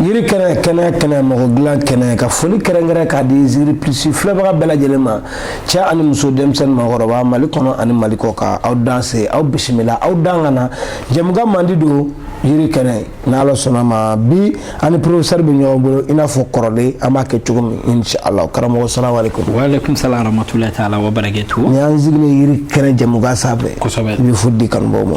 yiri kɛnɛ kɛnɛ kɛnɛ mɔgɔ dilan kɛnɛ ka foli kɛrɛnkɛrɛn k'a di zigiri plus filɛbaga bɛɛ lajɛlen ma cɛ ani muso denmisɛnnin maakɔrɔba mali kɔnɔ ani mali kɔkan aw danse aw bisimila aw dan ka na jɛmukan mandi don yiri kɛnɛ n'ala sɔnna ma bi an ni professeur bɛ ɲɔgɔn bolo i n'a fɔ kɔrɔlen an b'a kɛ cogo min inshallah karamɔgɔ salamu alaikum wa alaikum salam rahmatullahi ta'ala wa barakatuh ni an sigilen yiri kɛnɛ jɛmukan sanfɛ kosɛbɛ i bɛ foli di kanubaaw ma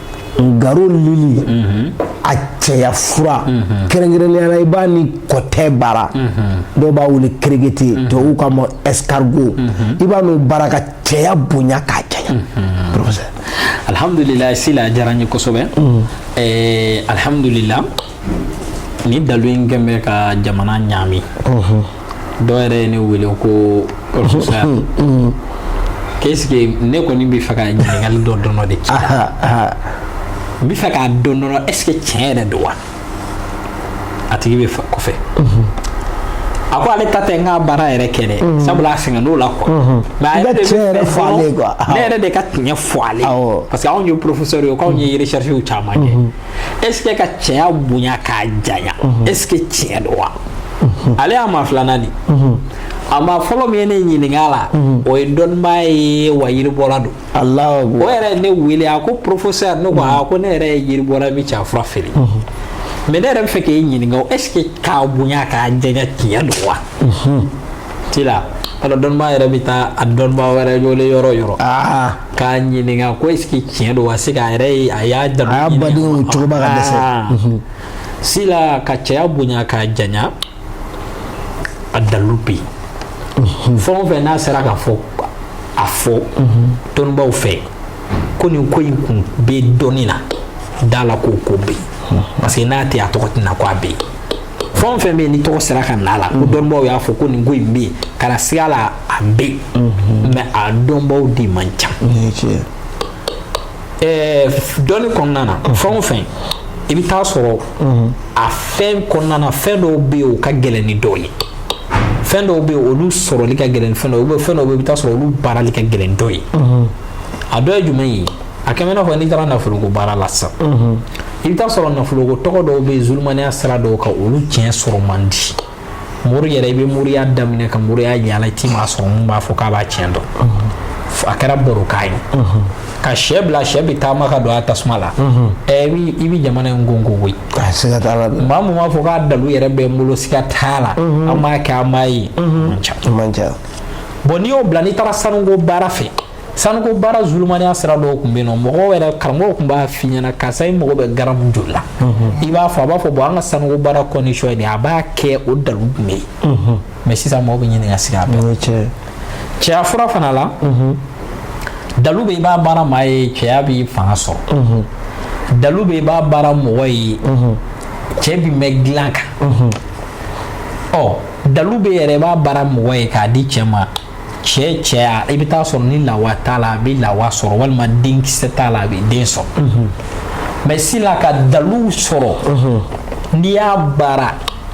Ngaro lili a cɛya fura kɛrɛnkɛrɛnnenya la i b'a ni kɔtɛ baara dɔw b'a wele kɛrɛkɛtɛ dɔw k'a ma escargot i b'a n'o baara ka cɛya bonya k'a janya professeur alihamdulila sila diyara n ye kosɛbɛ alihamdulila ni dalu in kɛn bɛ ka jamana ɲaami dɔw yɛrɛ ye ne wele ko professeur k'est ce que ne kɔni bɛ fɛ ka ɲininkali dɔ dɔrɔn de k'i la n bɛ fɛ k'a dɔn dɔrɔn est ce que tiɲɛ yɛrɛ don wa a tigi bɛ kɔfɛ a ko ale ta tɛ n ka baara yɛrɛ kɛ dɛ sabula a sɛgɛnn'o la quoi mais a yɛrɛ de bɛ fɛ fo ne yɛrɛ de ka tiɲɛ fɔ ale parce que anw ye professeurs ye k'anw ye recherches caman kɛ est-ce que ka cɛya bonya k'a janya mhm. est-ce que tiɲɛ don wa mhm. ale y'a maa filanan de mhm. a maa fɔlɔ min ye ne ɲininka la o ye dɔnnibaa ye wa yiribɔla don o yɛrɛ ye ne wele a ko professeur ne ko a ko ne yɛrɛ ye yiribɔla min cɛ fura feere mais ne yɛrɛ bɛ fɛ k'e ɲininka o est ce que k'a bonya k'a janya tiɲɛ don wa ti la alors dɔnnibaa yɛrɛ bɛ taa a dɔnnibaa wɛrɛ wele yɔrɔ yɔrɔ k'a ɲininka ko est ce que tiɲɛ don wa c'est k'a yɛrɛ ye a y'a dalu a y'a badenw cogoba ka dɛsɛ ah. mhm. sila ka cɛya bonya k'a janya a dalilu bɛ yen mhm. fɛn o fɛn n'a sera ka fɔ a fɔ mhm. dɔnnibaw fɛ ko nin ko in kun bɛ dɔnni na da a la k'o ko bɛ yen parce que n'a tɛ a tɔgɔ tɛ na ko a bɛ yen fɛn o fɛn bɛ yen ni tɔgɔ sera ka na a la ko mhm. dɔnnibaaw y'a fɔ ko nin ko in bɛ yen kana siga la a bɛ yen mhm. mais a dɔnbaaw de man ca ɛɛ dɔnni kɔnɔna na mhm. fɛn o fɛn i bɛ taa sɔrɔ a fɛn kɔnɔna na fɛn dɔw bɛ yen o ka gɛlɛn ni dɔw ye fɛn dɔw bɛ yen olu sɔrɔli ka gɛlɛn ni fɛn dɔw ye fɛn dɔw bɛ yen i bɛ taa sɔrɔ olu baarali ka gɛlɛn dɔw ye a dɔ ye jumɛn ye a comme n'a fɔ n'i taara nafoloko baara la sisan i bɛ taa sɔrɔ nafoloko tɔgɔ dɔw bɛ yen zulumaniya sira dɔw kan olu tiɲɛ sɔrɔ man di mori yɛrɛ i bɛ moriya daminɛ ka moriya yaala i ti maa sɔrɔ mun b'a fɔ k'a b'a tiɲɛ dɔn a kɛra barokan ye ka sɛ bila sɛ bɛ taama ka don a tasuma la ɛ i bɛ jamana in gongo koyi maa mun b'a fɔ k'a dalu yɛrɛ bɛ n bolo siga t'a la an b'a kɛ an b'a ye man ca bon n'i y'o bila n'i taara sanuko baara fɛ sanuko baara zulumaniya sira dɔw tun bɛ yen nɔ mɔgɔw yɛrɛ karamɔgɔw tun b'a f'i ɲɛna karisa i mago bɛ garamu joli la i b'a fɔ a b'a fɔ bon an ka sanuko baara condition ye nin a b'a kɛ o dalu tun bɛ yen mais sisan mɔgɔw bɛ ɲini ka sigi a bɛɛ cɛya fura fana la dalu bɛ i b'a baara maa ye cɛya bi fanga sɔrɔ dalu bɛ i b'a baara mɔgɔ ye cɛ bi mɛn dilan kan ɔ dalu bɛ yɛrɛ i b'a baara mɔgɔ ye k'a di cɛ ma cɛ cɛya i bɛ taa sɔrɔ ni lawa t'a la a bɛ lawa sɔrɔ walima denkisɛ t'a la a bɛ den sɔrɔ mhm. mais sila ka dalu sɔrɔ mhm. n'i y'a baara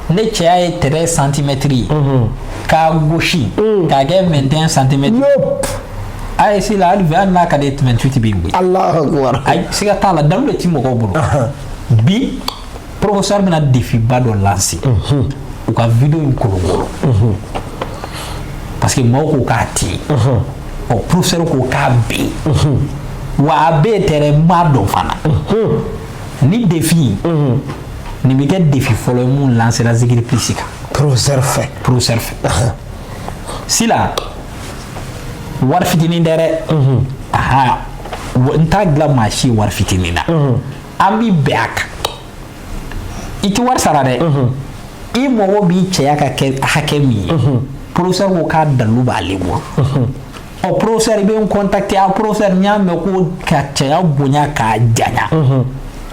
ne cɛya ye treize centimètres ye mhm. k'a gosi mm. k'a kɛ vingt et un centimètres ayi sila hali bi hali n'a ka di i ye vingt-huit bi wuli a siga t'a la dalu de ti mɔgɔw bolo bi professeur bɛna défi ba dɔ lancer u ka vidéo in kolonkolon parce que maaw ko k'a tɛ yen ɔ professeur ko k'a bɛ yen wa a bɛ yen tɛrɛ n b'a dɔn fana ni défi nin bɛ kɛ défi fɔlɔ ye mun lancer la zikiri plus kan professeur fɛ professeur fɛ sila wari fitinin tɛ dɛ aha n t'a dilan maa si ye wari fitinin na an b'i bɛn a kan i tɛ wari sara dɛ i mago b'i cɛya ka kɛ hakɛ min ye professeur ko k'a dalu b'ale bolo ɔ professeur i bɛ n contacter a professeur n y'a mɛn ko ka cɛya bonya k'a janya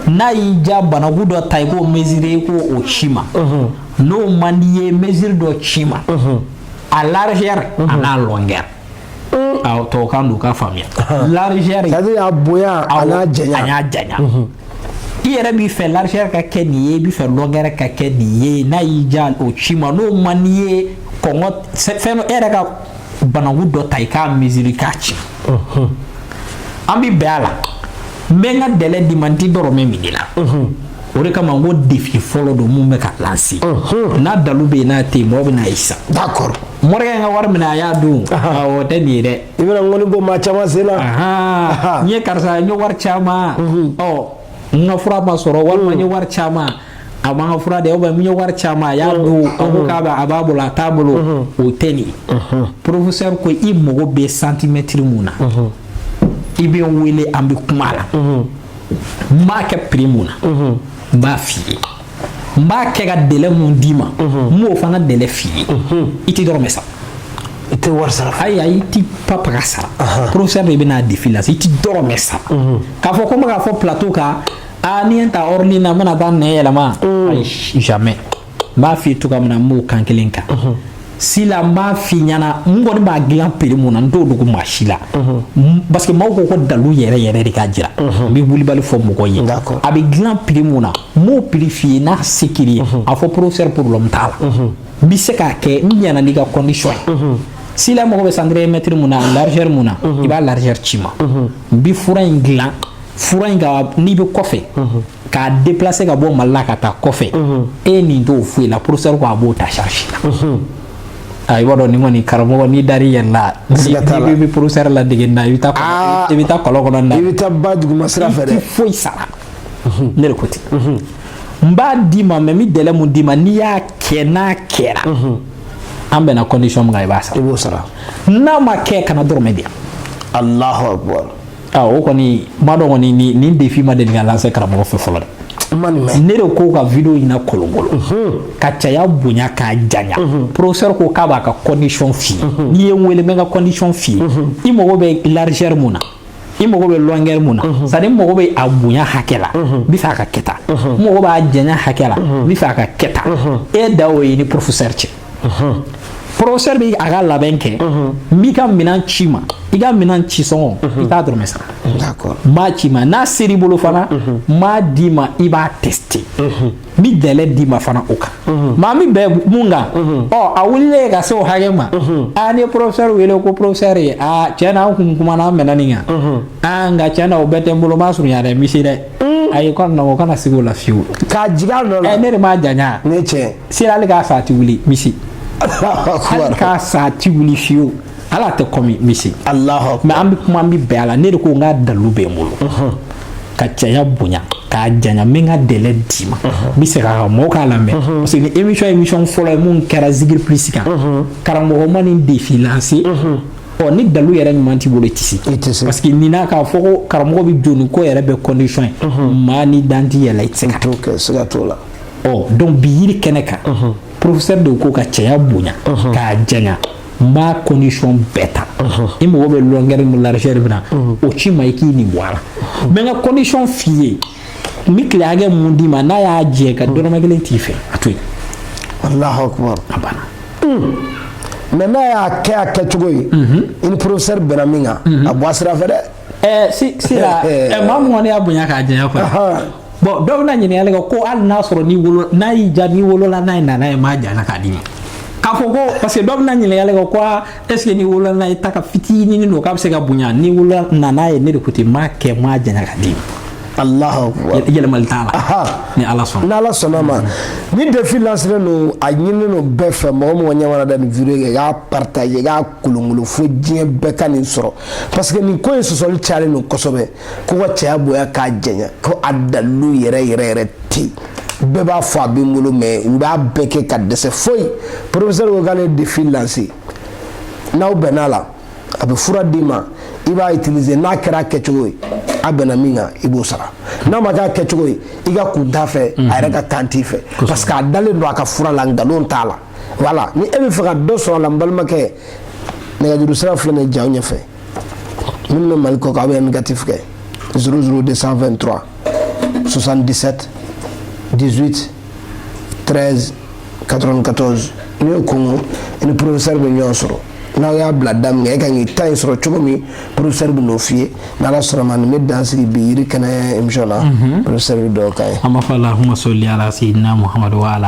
n'a y'i diya bananku dɔ ta i k'o mesurer i k'o ci ma n'o man di i ye mesure dɔ ci ma a largeur an'a longueur tɔw k'a dɔn k'a faamuya largeur ça veut dire a bonya a n'a janya a n'a janya i yɛrɛ b'i fɛ largeur ka kɛ nin ye i b'i fɛ longueur ka kɛ nin ye n'a y'i diya o ci ma n'o man di i ye kɔngɔ fɛn dɔ e yɛrɛ ka bananku dɔ ta i k'a mesurer k'a ci an bɛ bɛn a la n bɛ n ka délai d'i ma n ti dɔrɔmɛ min'i la o de kama n ko défi fɔlɔ don mun bɛ ka lancer n'a dalu bɛ yen n'a tɛ yen mɔgɔ bɛn'a ye sisan morikɛ in ka wari minɛ a y'a dun o tɛ nin ye dɛ i bɛna ŋɔni bɔ maa caman sen na n ye karisa n ye wari c'a ma ɔ n ka fura ma sɔrɔ walima n ye wari c'a ma a ma n ka fura di ou bien n ye wari c'a ma a y'a dun a ko k'a bɛ a b'a bolo a t'a bolo o tɛ nin ye professeur ko i mago bɛ centimètre mun na i bɛ n wele an bɛ kuma a la n b'a kɛ prix mun na n b'a f'i ye n b'a kɛ ka délai mun d'i ma n b'o fana délai f'i ye i tɛ dɔrɔmɛ sara i tɛ wari sara ayi ayi i ti papa ka sara professeur de bɛna défi la i ti dɔrɔmɛ sara k'a fɔ ko n bɛ k'a fɔ plateau kan a ni n ta hors ligne na n bɛna taa nɛn yɛlɛma ayi jamais n b'a f'i ye cogoya min na n b'o kan kelen kan sila n b'a f'i ɲɛna n kɔni b'a dilan prix mun na n t'o dogo maa si la parce que maaw ko ko dalu yɛrɛ yɛrɛ de ka jira n bɛ wulibali fɔ mɔgɔ ye a bɛ dilan prix mun na n b'o prix f'i ye n'a se kɛr'i ye a fɔ professeur problème t'a la n bɛ se k'a kɛ n ɲɛna n'i ka condition ye sila mago bɛ centimètre mun na largeur mun na i b'a largeur ci ma n bɛ fura in dilan fura in ka n'i bɛ kɔfɛ k'a déplacer ka bɔ Mali la ka taa kɔfɛ e nin t'o foyi la professeur ko a b'o ta charge la i b'a dɔn nin kɔni karamɔgɔ n'i dar'i yɛrɛ la n'i bɛ professeur ladege na i bɛ taa i bɛ taa kɔlɔn kɔnɔ na i bɛ taa ba duguma sira fɛ dɛ i tɛ foyi sara ne de ko ten n b'a d'i ma mais n bɛ délai mun d'i ma n'i y'a kɛ n'a kɛra an bɛnna condition min kan i b'a sara i b'o sara n'a ma kɛ kana dɔrɔmɛ di yan Allahu akbar o kɔni n b'a dɔn kɔni nin défi ma deli ka lancer karamɔgɔ fɛ fɔlɔ dɛ ne de ko ka video in na kolokolo ka cɛya bonya k'a janya professeur ko k'a b'a ka condition f'i ye n'i ye n wele n bɛ n ka condition f'i ye i mago bɛ largeur mun na i mago bɛ longueur mun na c'est à dire n mago bɛ a bonya hakɛ la n bɛ fɛ a ka kɛ tan n mago b'a janya hakɛ la n bɛ fɛ a ka kɛ tan e da o y'i ni professeur cɛ professeur bɛ a ka labɛn kɛ n b'i ka minɛn c'i ma i ka minɛn ci sɔngɔ i t'a dɔrɔmɛ sara n b'a c'i ma n'a ser'i bolo fana n b'a d'i ma i b'a tester n bɛ délai d'i ma fana o kan maa min bɛ mun kan ɔ a wulilen ka se o hakɛ ma a ni professeur wele ko professeur ye a tiɲɛ na an kun kumana an bɛnna nin kan aa nka tiɲɛ na o bɛɛ tɛ n bolo n b'a surunya dɛ misi dɛ ayi mɔgɔ kana siga o la fiyewu k'a jigin a nɔ la ne de m'a janya ne tiɲɛ sera hali k'a sa a ti wuli misi hali k'a sa a ti wuli fiyewu ala tɛ kɔmi misi mais an bɛ kuma an bɛ bɛn a la ne de ko n ka dalu bɛ n bolo ka cɛya bonya k'a janya n bɛ n ka délai d'i ma n bɛ segin a kan mɔgɔw k'a lamɛn parce que ni émission émission fɔlɔ ye mun kɛra Zigiri Plus kan karamɔgɔ ma nin défi lancer ɔ ni dalu yɛrɛ ɲuman t'i bolo i tɛ se i tɛ se parce que nin n'a k'a fɔ ko karamɔgɔ bɛ jɔ ni ko yɛrɛ bɛɛ condition ye maa ni dan t'i yɛrɛ la i tɛ se k'o kɛ siga t'o la ɔ donc bi yiri kɛnɛ kan professeur de ko ka cɛya bonya k'a janya n b'a condition bɛɛ ta i mago bɛ longueur ni largeur min na o ci n ma i k'i nin bɔ a la n bɛ n ka condition f'i ye n bɛ tile hakɛ mun d'i ma n'a y'a jɛ ka dɔrɔmɛ kelen t'i fɛ a to yen Allahu akbar a banna mais n'a y'a kɛ a kɛcogo ye i ni professeur bɛnna min kan a bɔ a sira fɛ dɛ ɛɛ si si la ɛ maa mun kɔni y'a bonya k'a janya quoi Ahan. bon dɔw bɛna ɲininkali kɛ ko hali n'a sɔrɔ n'i wolo n'a y'i ja n'i wolola n'a ye nana ye maa jana k'a d'i ma k'a fɔ ko parce que dɔw bɛna ɲininkali kɛ ko aa ɛseke n'i wolola n'a ye ta ka fitinin don k'a bɛ se ka bonya n'i wolola nana ye ne de ko ten m'a kɛ m'a janya k'a d'i ma alahu yɛlɛmali t'a la ni ala sɔnna ni ala sɔnna ma nin defi lanselen don a ɲininen don bɛɛ fɛ mɔgɔ o mɔgɔ ɲɛ mana da nin video kan k'a partage k'a kolonkolon fo diɲɛ bɛɛ ka nin sɔrɔ parce que nin ko in sɔsɔli cayalen don kosɛbɛ ko ka cɛya bonya k'a janya ko a dalilu yɛrɛ yɛrɛ yɛrɛ tɛ yen bɛɛ b'a fɔ a bɛ n bolo mɛ u b'a bɛɛ kɛ ka dɛsɛ foyi porofesɛri ko k'ale defi lanse n'aw bɛnna a la a bɛ fura d'i ma i b'a itilize n'a kɛra a kɛcogo ye aw bɛnna min kan i b'o sara n'a ma kɛ a kɛcogo ye i ka kun t'a fɛ a yɛrɛ ka tan t'i fɛ parce que a dalen don a ka fura la nkalon t'a la wala ni e bɛ fɛ ka dɔ sɔrɔ a la n balimakɛ nɛgɛjuru sira filɛ nin ye ja ɲɛfɛ minnu bɛ mali kɔ kan aw bɛ ɛndikatifu kɛ 00223 77 18 13 94 n'i y'o kɔnkɔn i ni porofesɛri bɛ ɲɔgɔn sɔrɔ n'aw y'a bila da min kan e ka k'i ta in sɔrɔ cogo min porofesɛri bɛn'o f'i ye n'ala sɔnna ma nin bɛ dan sigi bi yiri kɛnɛ emisiyɔn na porofesɛri bɛ duwawu k'an ye. an b'a fɔ alahuma sali ala seyidina muhamadu wa ala